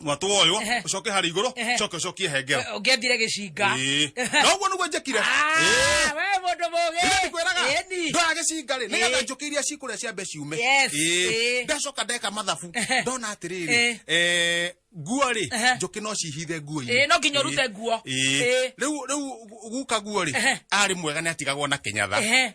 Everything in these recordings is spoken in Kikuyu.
mwatũ woywo Ehe. ũcoke harĩ igũrũ Ehe. coke ũcokie hengero ũngĩendire gĩcinga Ĩĩ. Ah. na ũguo nĩguo njekire Ah, Ĩĩ. we mũndũ mũgĩ Rĩrĩa ndikwĩraga Ĩni. ndoya gĩcinga rĩ nĩgetha Ĩĩ. njũkĩ iria cikũrĩa cia mbe ciume Yes, Ĩĩ. ĩĩ. ndacoka ndeka mathabu Ehe. ndona atĩrĩrĩ Ĩĩ. eh, nguo rĩ Ehe. njũkĩ no cihithe Ĩĩ, nguo-inĩ no nginya ũrute nguo. Ĩĩ. rĩu rĩu guka nguo rĩ Ehe. arĩ mwega nĩ atigagwo na kĩnyatha Ehe.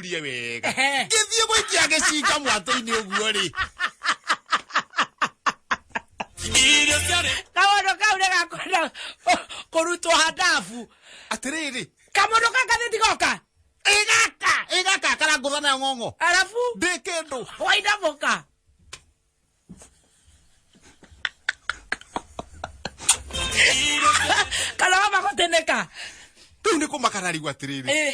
rie wega Ehe. ngĩthiĩ gũikia gĩcinga mwatũ-inĩ ũguo rĩ irio ciarĩ kamondo kau nä gakwenda kå rutwo handabu atĩrĩrĩ kamondo kaka nä ndigoka ĩgaka ĩgaka karangũtha nayo ng'ong'o arabu ndĩ kĩndũ wainamå ka kana wamagå tä nä ka rĩu nĩ kũmakara rĩu atĩrĩrĩ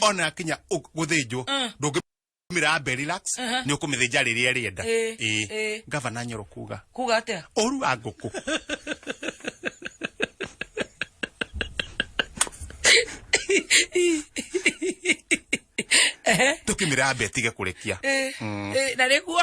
ona kinya guthĩnjwo mm. ndũngĩ mira be relax ni ukumithija riria rienda eh, eh. eh. gavana nyoro kuga kuga atia oru wa nguku tukimira be tige kurekia na riguo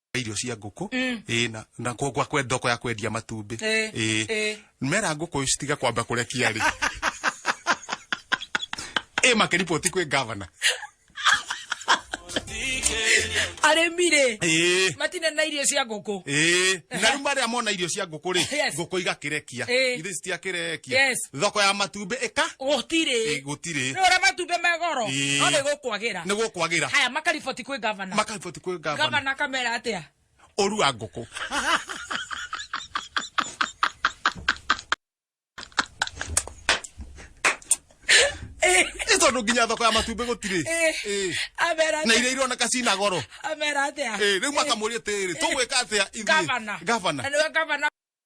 irio cia ngũkũ mm. ĩ na na kwa kwa kwenda kwa kwendia matumbĩ eh, ĩ eh. mera ngũkũ citiga kwamba kurekia ri ĩ makiripoti kwĩ governor arĩmi rĩ eh. matina na irio cia ngũkũ na rĩu marĩa mona irio cia ngũkũ rĩ ngũkũ igakĩrekia ithe citiakĩrekia thoko ya matumbĩ ĩka gũtirĩ gũtirĩ rĩu ũrĩa matumbĩ me goro Ĩĩ. no nĩ gũkwagĩra nĩ gũkwagĩra haya makariboti kwĩ gavana makariboti kwĩ gavana gavana akamera atĩa ũrua ngũkũ Ĩ tondũ nginya thoko ya matumbĩ gũtirĩ Ĩĩ. Ĩĩ. amera na atĩa iria ironeka cina goro amera atĩa Ĩĩ, rĩu makamũria atĩrĩ tũgwĩka atĩa ithuĩ gavana gavana na nĩwe gavana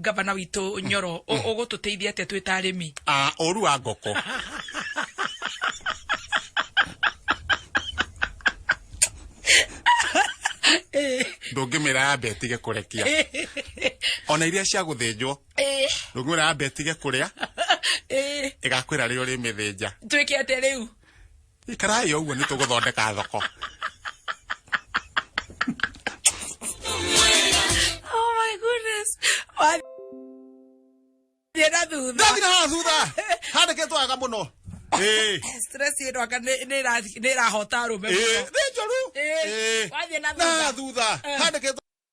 gavana witå nyoro å gå tå teithia atä twä ta arä mi Ah, ũru wa ngoko ndũngĩmĩra yambe ĩtige kũrekia ona iria cia gũthĩnjwo ndũngĩmĩra yambe ĩtige kũrĩa ĩgakwĩra rĩo rĩmĩthĩnja twä ke atä rä u Ikarai oguo ni tuguthondeka thoko. Oh my goodness. Wa- Thiĩ na thutha. Ndathi na haha thutha. Handikitwo aga muno. Eh. Stress ĩno anga nĩ- nĩ ĩra- nĩ ĩrahota arũme Eh, mũno. ni njoru. Eh, Eh. wathiĩ na Na thutha. thutha. Eh. Handikitwo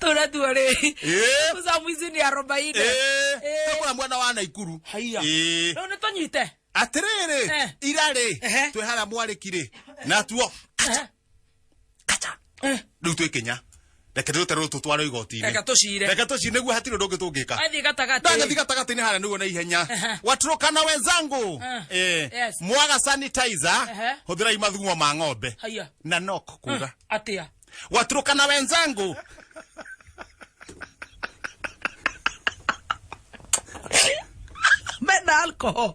tũra tuarĩ Eh. mũcamu ici nĩ arobaine Eh, tũkũra mwena wa naikuru haiya Eh. rĩu nĩ tũnyite atĩrĩrĩ Eh. ira rĩ Ehe. twĩ harĩa mwarĩkirĩ natuo kaca kaca rĩu twĩ kenya reke tũte rũrũ tũtware igoti-inĩ reka tũcire reke tũcire nĩguo hatirĩ ũndũ ũngĩ tũngĩka athiĩ gatagatĩ ndathiĩ gatagatĩ-inĩ harĩa nĩguo na ihenya Aha. waturũkana wenzangu Ah. Eh, Yes. mwaga sanitizer Aha. hũthĩrai mathugumo ma ng'ombe haya na nok kuga atĩa waturũkana wenzangu mena alcohol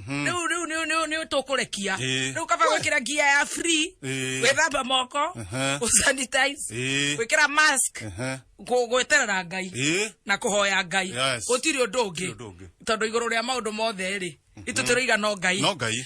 riu riu ni ni ni tukurekia Eh. riu kaba gwikira gia ya free Eh. gwithamba moko Aha. sanitize Eh. gwikira mask Aha. gu- gweterera ngai Eh. na kuhoya ngai Yes. gutiri undu Gũtirĩ ũndũ ungi ũngĩ. tondu iguru ria maundu mothe ri itu turiga no ngai no ngai